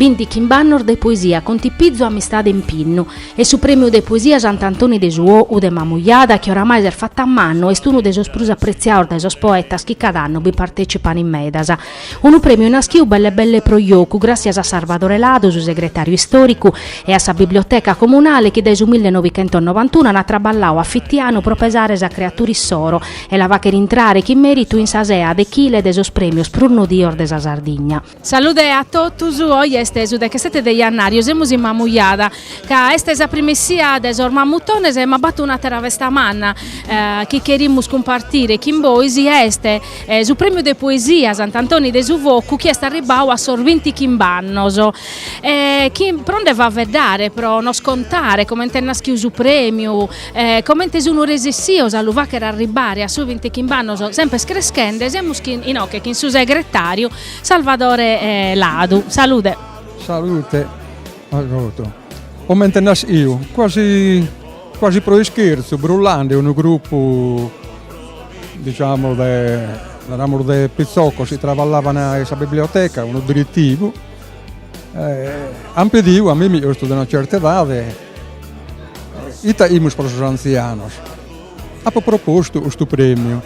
Binti chimb'annos de poesia contipizu, amistade, impinnu e su Prèmiu de poesia Sant'Antoni de su Ou de Mamujada chi oramai s'est fatt'a mannu est unu de sos prus apretziados dae sos poetas chi cada annu bi partècipan in medas. Unu prèmiu naschiu belle belle pro jocu, gràssias a Sarvadore Ladu, su segretàriu istòricu, e a sa biblioteca comunale chi dae su mille novichentos novantunu ant traballau a fitianu pro pesare sa creatura issoro e la fàchere intrare chin mèritu in sa sea de chile de sos prèmios prus nodios de sa Sardigna. Salude a totus, oe est su dechesete de jannàriu, semus in Mamujada, ca est sa prima essia de sos Mamutones, ma b'at un'àtera festa manna chi cherimus cumpartire chin bois, chi est Su Prèmiu de Poesia Sant'Antoni de su Focu chi est arribbau a sos binti chimb'annos. Chi pro nde faveddare, pro nos contare comente est naschiu su prèmiu, comente sun resessios a lu fàchere arribbare a sos binti chimb'annos semper creschende, semus chin inoche chin su segretàriu Salvadore Ladu. Salude. Salute a totu. Comente est naschiu, quasi Quasi pro ischerzu brullande unu grupu diciamo de naramus de pitzoccos chi traballavan in sa biblioteca, unu diretivu, ant pediu a mimmi chi fut de una certa edade, ite 'aimus pro sos antzianos. Apo propostu custu premiu,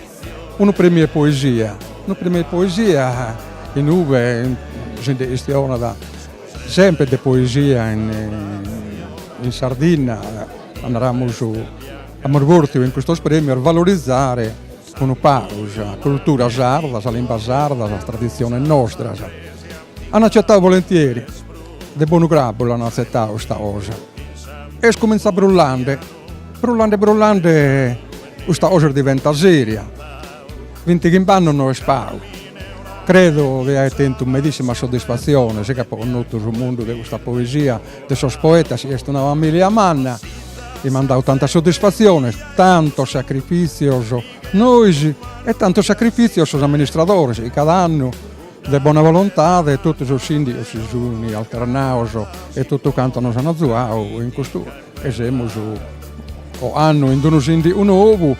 unu premiu 'e poesia, unu premiu 'e poesia inube si nde chistionat Sempre de poesia in Sardinna, naramus amus bortiu in custos premios valorizare unu pagu sa cultura sarda, sa limba sarda, sas traditziones nostras. An acetadu volentieri, de bonu grabu l'an atzetadu custa cosa. Est comintzà brullande, brullande brullande custa cosa est diventà seria Vinti chimb'annos no est pagu. Credo chi aet tentu medìssima soddisfatzione sì, ca apo connotu su mundu de custa poesia de sos poetas chi est una familia manna chi m'an dau tantas soddisfatziones, tantos sacrifìtzios nois e tantos sacrifìtzios sos amministradores chi cada annu de bona volontade totu sos sìndigos si sun alternados e totu cantos nos an azuadu in custu e semus ocannu chin unu sìndigu nobu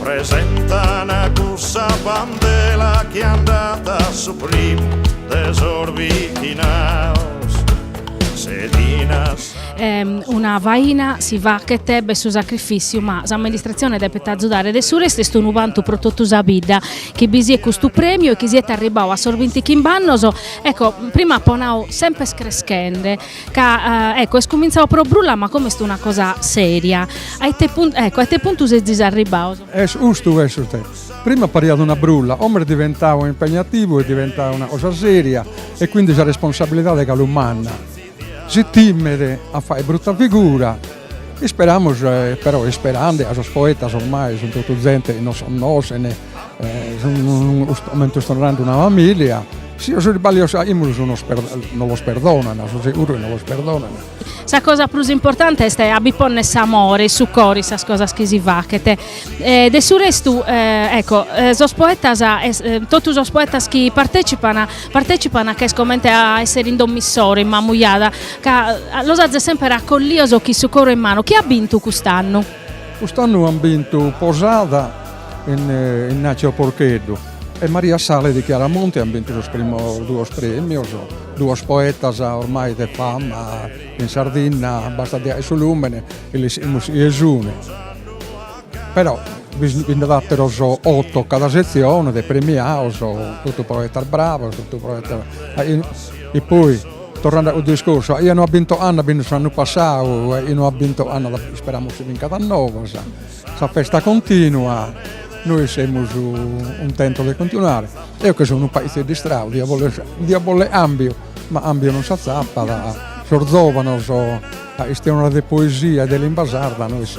Presentan a cussa bandela chi andat a su primu de sos bichinaos, sedinas. Una faina si fachet b'est su sacrifìtziu ma s'amministratzione depet azudare de su restu est unu vantu pro totu sa bidda chi bi siet custu prèmiu e chi siet arribbau a sos bintichimbe annos ecco prima apo nau semper creschende ca ecco est cumintzau pro brulla ma como est una cosa seria a ite puntu a ite puntu sezis arribbaus? Est custu ca est sutzessu, prima pariat una brulla, como est diventau impegnativu est diventau una cosa seria e quindi sa responsabilidade galu manna si timet a fai brutta figura Isperamus, però isperande, ca sos poetas ormai sun totu zente chi nos connoschen, comente chi semus una familia, si sos isballios achimus nos los perdonan, su seguru chi nos los perdonan. Sa cosa prus importante est a bi ponner s'amore in su coro in sas cosas chi si faghet. De su restu, ecco, sos poetas, totu sos poetas chi partecipan, Partècipan ca est comente a èssere in domo issoro, in Mamujada, ca los azes semper acollios chin su coro in manu. Chi at bintu cust'annu? Cust'annu an bintu Posada Innàtziu Porcheddu e Maria Sale de Chiaramonti, an bintu sos primos duos premios, duos poetas ormai de fama in Sardinna, bastat su lùmene e lis timet nessune. Però bi nd'at àteros oto cada setzione de premiados, totu poetas bravos, totu poetas. Poi torrende a custu discorsu, a chie no at bintu ocannu at bintu s'annu passau, a chie no at bintu ocannu isperamus chi bincat a noba, sa festa continua, nois semus cuntentos de continuare, eo chi seu unu paizu istracu dia bòllere dia bòllere cambiu, ma cambiu non s'agatat, sos zovanos a istionare de poesia e de limba sarda nois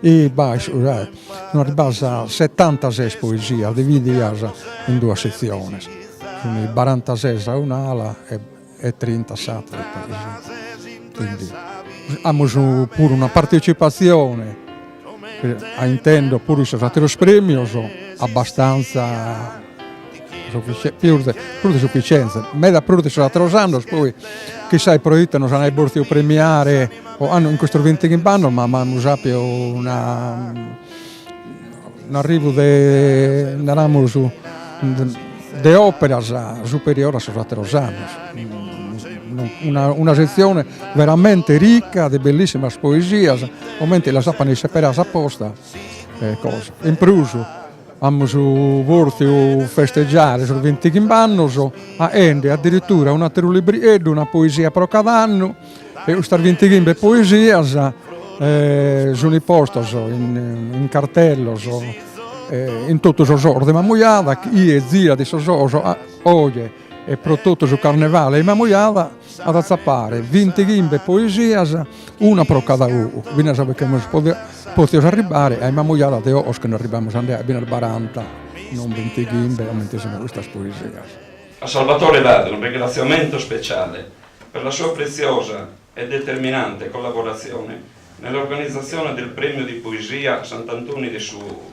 E b'at istau arribadas setantases poesias dividias in duas setziones, cun barantases a un'ala e trinta a s'atera, quindi amus puru una partecipatzione, a intèndere puru in sos ateros premios, abbastanza pius de prus de sufficienza meda prus de sos ateros annos poi chissai pro ite nos an bortiu premiare o an in custos vintichimbe annos ma amus appiu unu un'arrivu de naramos de operas superiore a sos ateros annos una una setzione veramente ricca de bellissimas poesias comente las apo a nde isseberare s'apposta e cosa in prus Amus pòrtiu festegiare sos bintighimbannos faende addirittura un'àteru librieddu, una poesia pro cada annu e custas bintighimbe poesias sunt postas in cartellos in totu sos locos de Mamujada, chie zirat sos locos oje e pro totu su Carnevale in Mamujada at a atzapare vinti chimbe poesias, una pro cada ogu, finas perché imus pòtios arribbare a in Mamujada de ogos chi nde arribbamus a nd'e finas baranta, non vinti chimbe comente sighint custas poesias. A Salvatore Ladu un ringraziamento speciale per la sua preziosa e determinante collaborazione nell'organizzazione del Premio di Poesia Sant'Antoni de su ogu.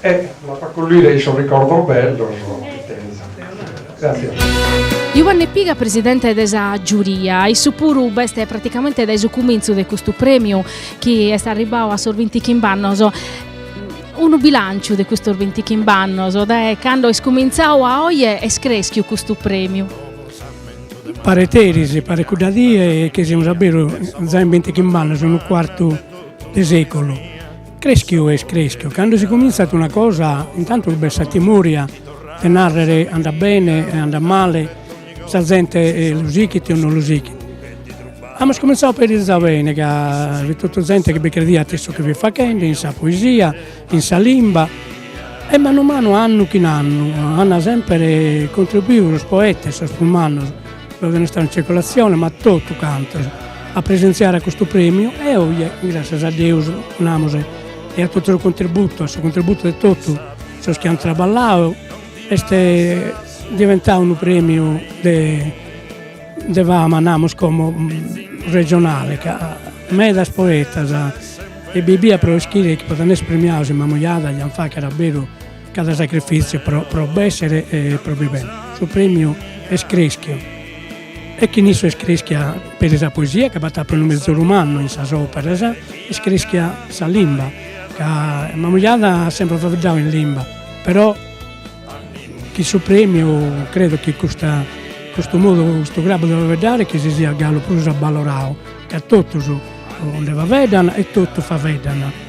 E l'as a collire in sos ricordos bellos chi tenes. Gràtzias. Juanne Piga presidente de sa giuria, issu puru b'est praticamente dae su cumintzu de custu prèmiu chi est arribbau a sos bintichimb'annos, unu bilànciu de custos bintichimb'annos, dae cando est cumintzau a oje est crèschiu custu prèmiu? Paret eris, paret cudda die chi semus a beru, giai in bintichimb'annos, unu cuartu de sèculu Creschiu est creschiu, cando si comintzat una cosa intantu b'est sa timòria de narrer andat bene e andat male, sa zente lu sighit o non lu sighit. Amus comintzadu a perizza bene ca fit totu zente chi bi crediat in su chi fit faghende, in sa poesia, in sa limba e manu manu annu chin annu an sempre contribuidu sos poetas, sos prus mannos No chena istare in circolatzione, ma totu cantos, a presentziare a custu prèmiu e oje, gràssias a Deus, namus, e a totu su contributu, a su contributu de totu sos chi ant traballau, est diventau unu prèmiu de de fama, namus, como regionale ca medas poetas ebbia pro ischire chi podent èssere premiados in Mamujada diant fàghere a beru Cada sacrifìtziu pro pro b'èssere e pro bivere. Su prèmiu est crèschiu e chin issu est crèschia peri sa poesia ca b'at appiu unu mezoru mannu in sas òperas, est crèschia sa limba ca Mamujada at semper faeddadu in limba, però chin su prèmiu credo chi custa custu modu custu grabbu de faeddare chi si siat galu prus abbaloradu ca totus nde faeddan e totu faeddan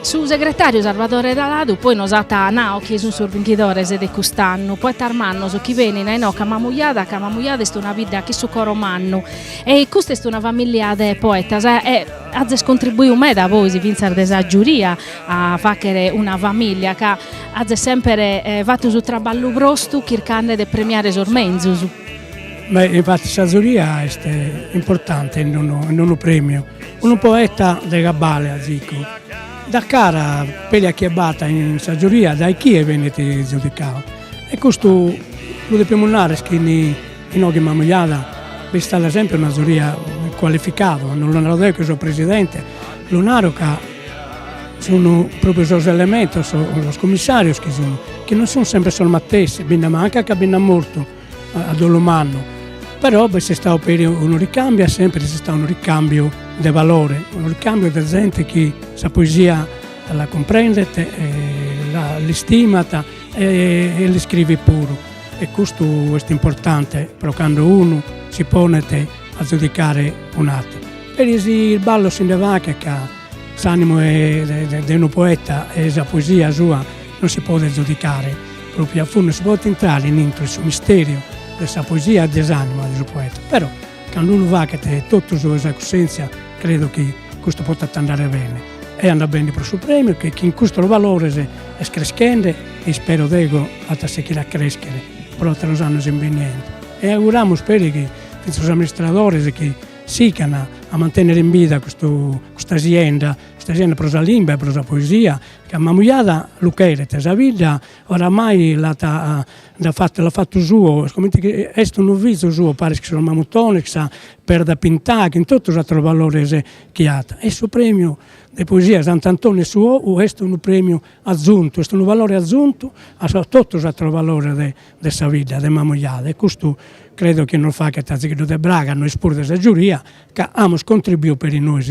Su segretàriu Sarvadore Ladu poi nos at nau chie sunt sos binchidores de cust'annu, poetas mannos chi benint a inoghe a Mamujada, ca Mamujada est una bidda chin su coro mannu e custa est una famìllia de poetas e azes contribuiu meda bois fintzas de sa giuria a fàghere una famìllia ca azes semper fatu su traballu brostu chircande de premiare sos menzus. Beh, infattis sa zuria est importante in unu in unu premiu Unu poeta de cabale azicu dat cara peri a chie b'at in sa giuria dae chie benit giudicadu. E custu lu depimus narrer chi inoghe in Mamujada b'istat sempre una zuria cualificada, non lu naro deo chi so presidente, lu naro ca sun propriu sos elementos, sos commissarios chi sun, chi non sun sempre sos matessi, bi nde mancat ca bi nd'at mortu a dolu mannu, però b'est istadu peri unu ricambiu e sempri est istadu unu ricambiu de valore, unu ricambiu de zente chi sa poesia la cumprendet e l'istimat e l'iscrivit puru e custu est importante però cando unu si ponet a zudicare un'ateru. Peri si isballos si nde faghet ca s'animu de unu poeta e sa poesia sua non si podet zudicare Pròpiu a fundu non si podet intrare in intro in su mistèriu de sa poesia e de s'ànima de su poeta, però, cando unu faghet totus de sa cussèntzia credo chi custu potat andare bene, e andat bene pro su prèmiu che chin custos valores est creschende e ispero deo at a seghire a crèschere pro àteros annos in beniente e auguramus peri chi fintzas sos amministradores sigant a mantènnere in bida custu custa sienda, custa sienda pro sa limba e pro sa poesia Ca Mamujada lu cheret sa bidda, oramai l'at nd'at fatu l'at fatu suo, comente chi est unu fizu suo, paris chi su mamutone, chin sa Perda Pintada chin totu sos ateros valores chi at. E su premiu de poesia 'e Sant'Antoni 'e su Ou est unu premiu atzuntu, est unu valore atzuntu a totu sos ateros valores de de sa bidda de Mamujada e custu credo chi nos faghet azigheddu de braga a nois puru de sa giuria ca amus contribiu peri nois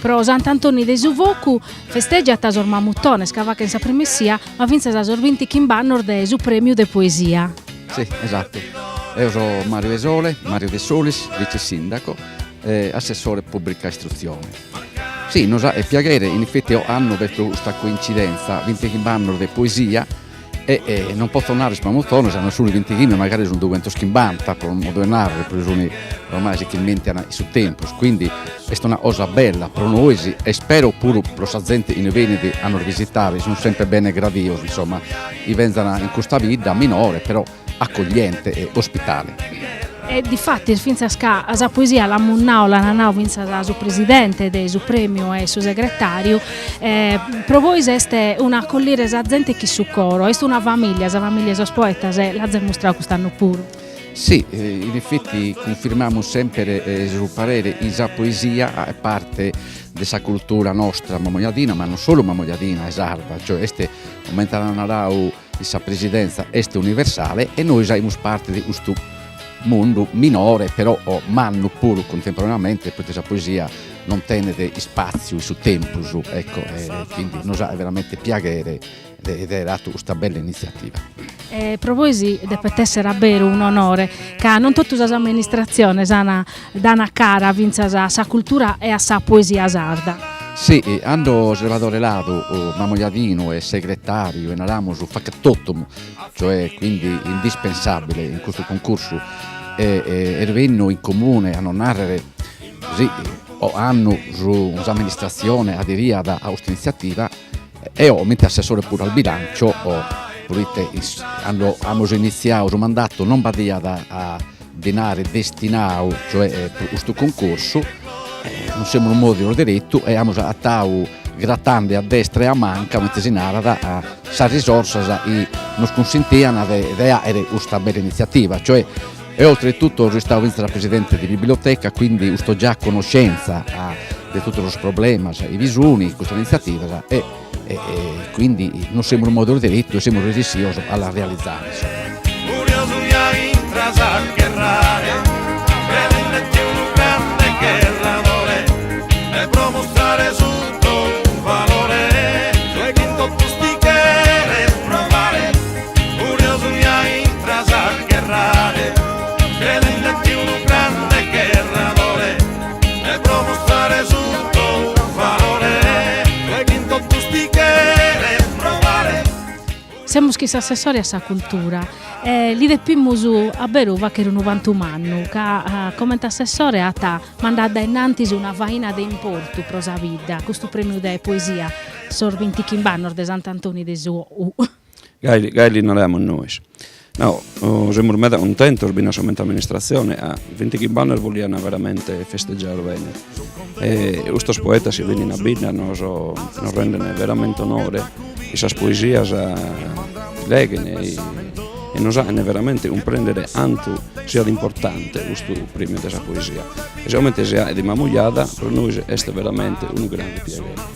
Pro Sant'Antoni de su Focu festejant sos mamutones ca faghen sa primessia, ma fintzas sos bintichimb'annos de su Prèmiu de Poesia. Si, esatu. Eo so Mario Dessolis, Mario Dessolis, vice-sìndaco e assessore pùbrica istrutzione. Si, nos 'aet piaghere, in effetti, ocannu pro custa coincidentza, bintichimb'annos de poesia, E e non potzo narrer sos mamutones ca no suni bintighimbe magari sun dughentoschimbanta pro non poder narrer pro suni ormai s'irmentican in su tempus quindi est una cosa bella pro nois e ispero puru pro sa zente chi benit a nos bisitare sun sempre bene gradios insomma chi benzan in custa bidda minore però accogliente e ospitale. E difatis fintzas ca sa poesia l'amus nau, l'ant nau fintzas su presidente de su premiu e su segretariu, pro bois est un'acollire sa zente chin su coro, est una familia, sa familia 'e sos poetas e l'azis mustrau cust'annu puru. Si, in effetti cunfirmamus semper su parere chi sa poesia est parte de sa cultura nostra mamojadina, ma non solu mamojadina, est sarda, cioè est comente at narau Sa presidente est universale e nois aimus parte de custu mundu minore però mannu puru contemporaneamente poite sa poesia non tenet ispatziu in su tempus ecco e quindi nos 'aet veramente piaghere de aer fatu custa bella iniziativa. E pro bois depet esser a beru un'onore ca non totu sas amministratziones an Dana cara fintzas a sa cultura e a sa poesia sarda. Si, cando Salvadore Ladu, mamojadinu, est segretàriu e naramus factotum, cioè quindi indispensàbile in custu cuncursu est bennu in comune a nos nàrrere si ocannu s'amministratzione aderiat a cust'initziativa E comente assessore puru al bilancio proite cando amus initziadu su mandatu non b'adiat dinari destinadu cioè pro custu concorsu e nos semus mòvios deretu e amus agatadu gratende a destra e a manca comente si narat sas risorsas chi nos cunsintian de àghere custa bella initziativa cioè E oltretutto so istadu fintzas presidente de biblioteca, quindi usto già a conoscenza de tottu sos problemas chi bi sun in custas inizzativas e e quindi nos semus mòvios deretu e semus resessios a las realizare. Curiosu mi intras a gherrare Credende chi unu grande gherradore Me pro mustrare su tou valore Oe chin totus ti cheres provare Semus chin s'assessore a sa cultura e li depimus a beru fagher unu bantu mannu ca comente assessore at mandadu dae innantis una faina de importu pro sa bidda, custu premiu de poesia, sos bintichimb'annos de Sant'Antoni de su Gai gai li naramus nois. No, semus meda cuntentos finas comente amministratzione, ca vintichimb'annos boliana veramente festeggiare bene e custos poetas chi bennin a bidda nos nos rendene veramente onore chin sas poesias chi leghen e nos achen veramente cumprendere cantu siat importante custu premiu de sa poesia e sigomente si ahet a Mamujada pro nois est veramente unu grande piaghere.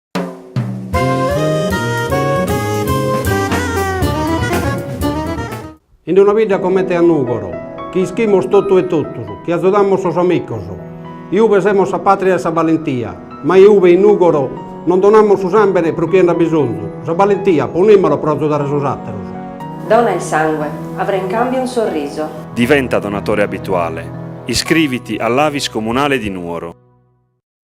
In una bidda comente a Nùgoro, chi ischimus totu e totus, chi azudamus sos amicos, iube semus sa pàtria 'e sa balentia, ma iube in Nùgoro non donamus su sàmbene pro chie nd'at bisonzu, sa balentia ponìmolo pro azudare sos àteros. Dona il sangue, avrai in cambio un sorriso. Diventa donatore abituale. Iscriviti all'Avis Comunale di Nuoro.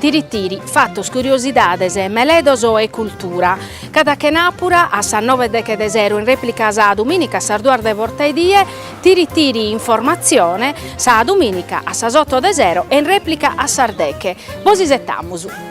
Tiri tiri, fatos, curiosidades, meledos e cultura. Cada chenàpura a sas nove e deghe de sero in rèplica sa dumìnica a sas duas de bortaedie, Tiri tiri informatzione, sa dumìnica a sas oto de sero e in rèplica a sas deghe. Bos isetamus!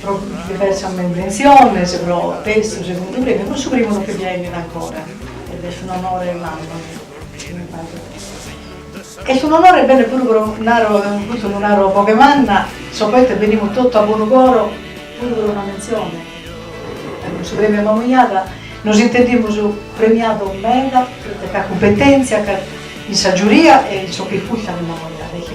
pro diversas menventziones, pro tertzu, segundu prèmiu e pro su primu non che fia ennida ancora ed est un onore mannu chi mi faghet est un onore bene puru pro naro custu lu naro a boghe manna sos poetas benimus totu a bonu coro puru pro una mentzione e cun su prèmiu a Mamoiada nos intendimus premiados meda pro sa cumpetentzia ca in sa giuria e in sos chi furtanu Mamoiada e chi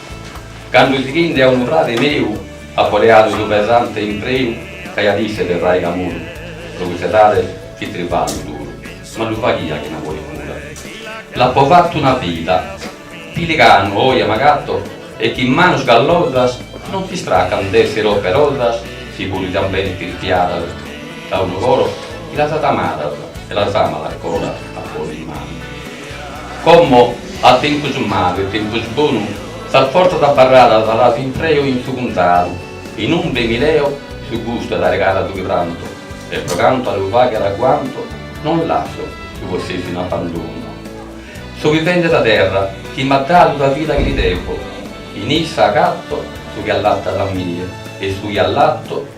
Cando sighinde a unu frade meu apo leadu su pesante impreu ch'aiat isse de fraigamuru pro cuss'edade fit tribagliu duru ma lu faghia chin amore e cura l'apo fattu una vida piliganu oje m'agatto e chin manos gallosas non s'istraccan d'essere operosas si puru iat bene tirchiadas da unu coro chi las at amadas e las amat ancora a ponni in manu. Como a tempus malu e tempus bonu, sas fortzas abarradas las impreo in su cunzadu, inumbe mi leo su gustu 'e dare cara a su chi pranto, e pro cantu a lu fagher aguanto, non lasso su possessu in abbandonu. So vivende sa terra chi m'at dadu sa vida chi li devo, in issa agatto su chi allattat a mie e su chi allatto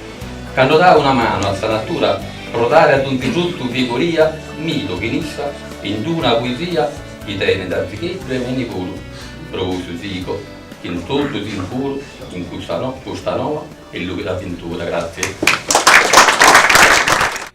Cando dao una manu a sa natura pro dare a donzi fruttu vigoria m'ido chin issa in una poesia chi tenet arzicheddu e mini puru, pro cussu sigo chin tottu sicuru in custa noa e lìbera avventura. Grazie.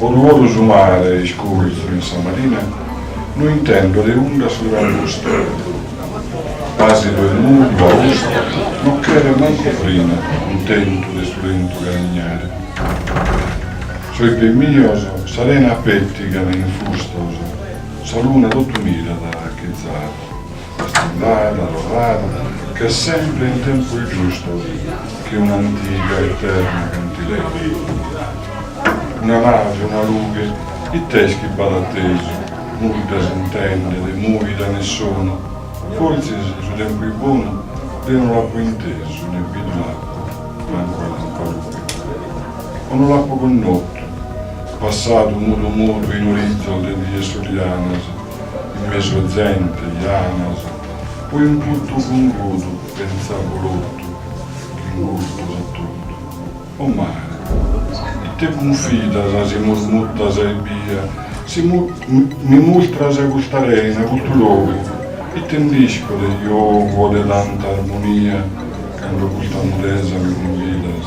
Oru oru su mare iscurzu in sa marina no intendo de unda su trambustu pasidu e mudu austu no cheret mancu frina cuntentu de su lentu carignare sos pes mios sa rena pettigan infustos sa luna totu mirat acherada. E s'unda dat torrada semper in tempos giustos che un'antiga eterna cantilena. Una nave, una lughe, it'est chi b'at atesu? Nudda s'intendet, mùida ne sonu, fortzis su tempus bonu deo no l'apo intesu ne bidu l'apo mancu a lampalughe. O no l'apo connotu, passadu mudu mudu in orizzos de dies solianas, In mesu a zente, janos, cun in puttu fungudu pentza bruttu chi in custu a totu. O mare, ite cunfidas si murmuttas ebbia, si mi mustras custa reina, custu logu, ite nd'isco de giogu o de tanta armonia cando custa mudesa mi cunfidas?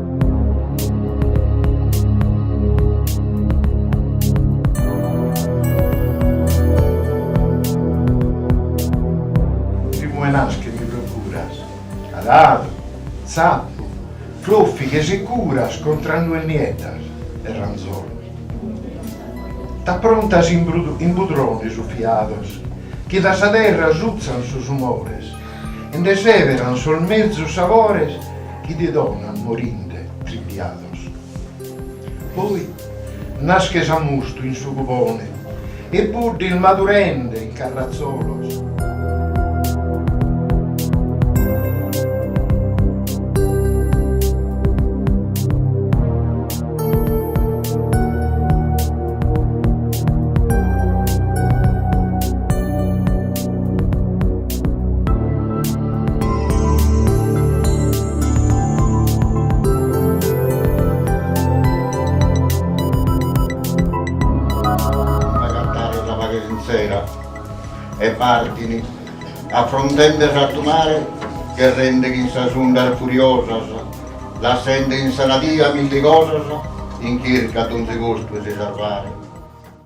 Rimuenas che mi procuras, aradu, zappu, floffighes e curas contra nues nieddas e ranzolos. T'approntas in budrones uffiados chi da sa terra sutzan sos umores e nde seberan sos mezus sabores chi ti donan morinde tribiados. Poi nasches a mustu in su cubone e buddis madurende in carratzolos. S'agattare sa paghe sintzera e partini affrontende s'artu mare gherrende chin sas undas furiosas lassende in sa nadia milli cosas in chirca a donzi costu 'e si sarvare.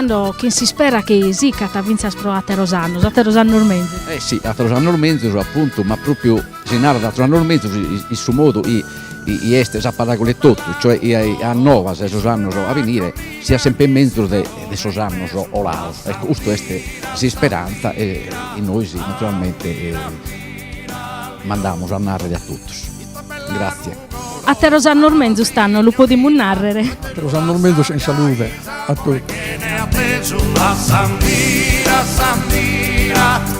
tando chin s'ispera chi sicat fintzas pro àteros annos, àteros annos menzus. Eh si, àteros annos menzus apuntu, ma pròpiu si narat àteros annos menzus in su modu chi est sa paraula etotu, cioè a novas 'e sos annos a benire Siat semper menzus de sos annos colaos, ecco custu est s'isperantza e nois naturalmente mandamus a narrer a totus. Grazie. Ateros annos menzus tando lu podimus narrer. Ateros annos menzus in salude a totus.